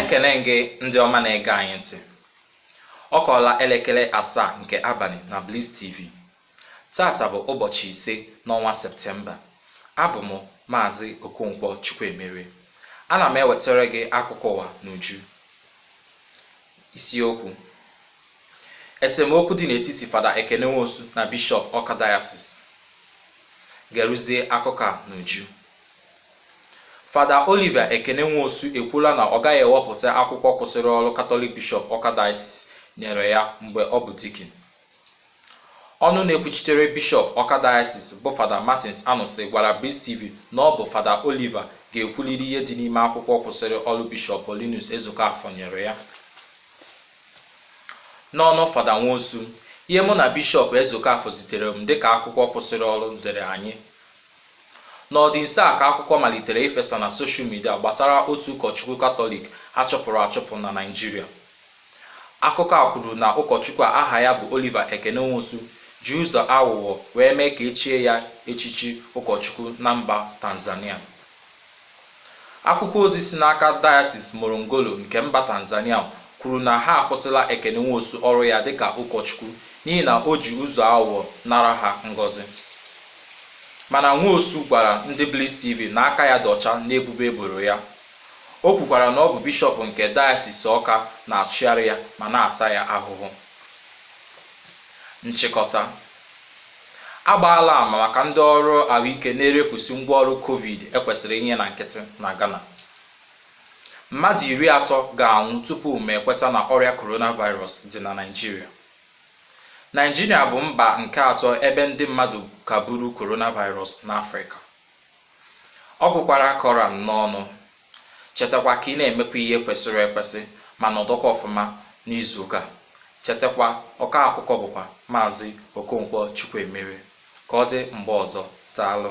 ekele gị ndị ọma na-ege anyị ntị ọ kụọla elekere asaa nke abalị na Bliss TV taata bụ ụbọchị ise n'ọnwa septemba abụ m maazi okonkwo chukwuemere ana m ewetara gị akụkọ ụwa n'uju Isiokwu Esemokwu dị n'etiti Fada Ekene Nwosu na Bishọp Ọka Dayasis Geruzie akụkọ a n'uju Fada Oliver Ekene Nwosu ekwuola na ọ gaghị ewepụta akwụkwọ kwụsịrị ọrụ Katọlik Bishọp Ọka Dayasis nyere ya mgbe ọ bụ dikin. Ọnụ na-ekwuchitere Bishọp Ọka Dayasis bụ Fada Martins Anụsị gwara Bliss TV na ọ bụ Fada Oliver ga-ekwuliri ihe dị n'ime akwụkwọ kwụsịrị ọrụ Bishọp Paulinus Ezeokafọ nyere ya. N'ọnụ Fada Nwosu, ihe mụ na Bishọp Ezeokafọ zitere m dịka akwụkwọ kwụsịrị ọrụ dịrị anyị. N'ọdị nso a ka akwụkwọ malitere ifesa na soshal midia gbasara otu ụkọchukwu Katọlik a chụpụrụ achụpụ na Naịjirịa. Akụkọ a kwuru na ụkọchukwu a aha ya bụ Oliver Ekene Nwosu ji ụzọ aghụghọ wee mee ka e chie ya echichi ụkọchukwu na mba Tanzania. Akwụkwọ ozi si n'aka Diocese Morongolo nke mba Tanzania kwuru na ha akwụsịla Ekene Nwosu ọrụ ya dịka ụkọchukwu n'ihi na o ji ụzọ aghụghọ nara ha ngọzi. Mana Nwosu gwara ndị Bliss TV na aka ya dị ọcha n'ebubo e boro ya. O kwukwara na ọ bụ Bishọp nke Dayọsis Awka na-achụgharị ya ma na-ata ya ahụhụ. Nchịkọta, A gbaala ama maka ndị ọrụ ahụike na-erefusi ngwaọrụ Covid e kwesịrị inye na nkịtị na Ghana. Mmadụ iri atọ ga-anwụ tupu ma ekweta na ọrịa coronavirus dị na Naịjirịa. Naịjirịa bụ mba nke atọ ebe ndị mmadụ ka buru coronavirus n'Afrịka. Ọ gwụkwara ka ọ ra m n'ọnụ, chetakwa ka ị na-emekwa ihe kwesịrị ekwesị ma nọdụkwa ọfụma n'izuụka. Chetakwa, ọkọ akụkọ bụkwa Maazi Okonkwo Chukwuemere. Ka ọ dị mgbe ọzọ, daalụ.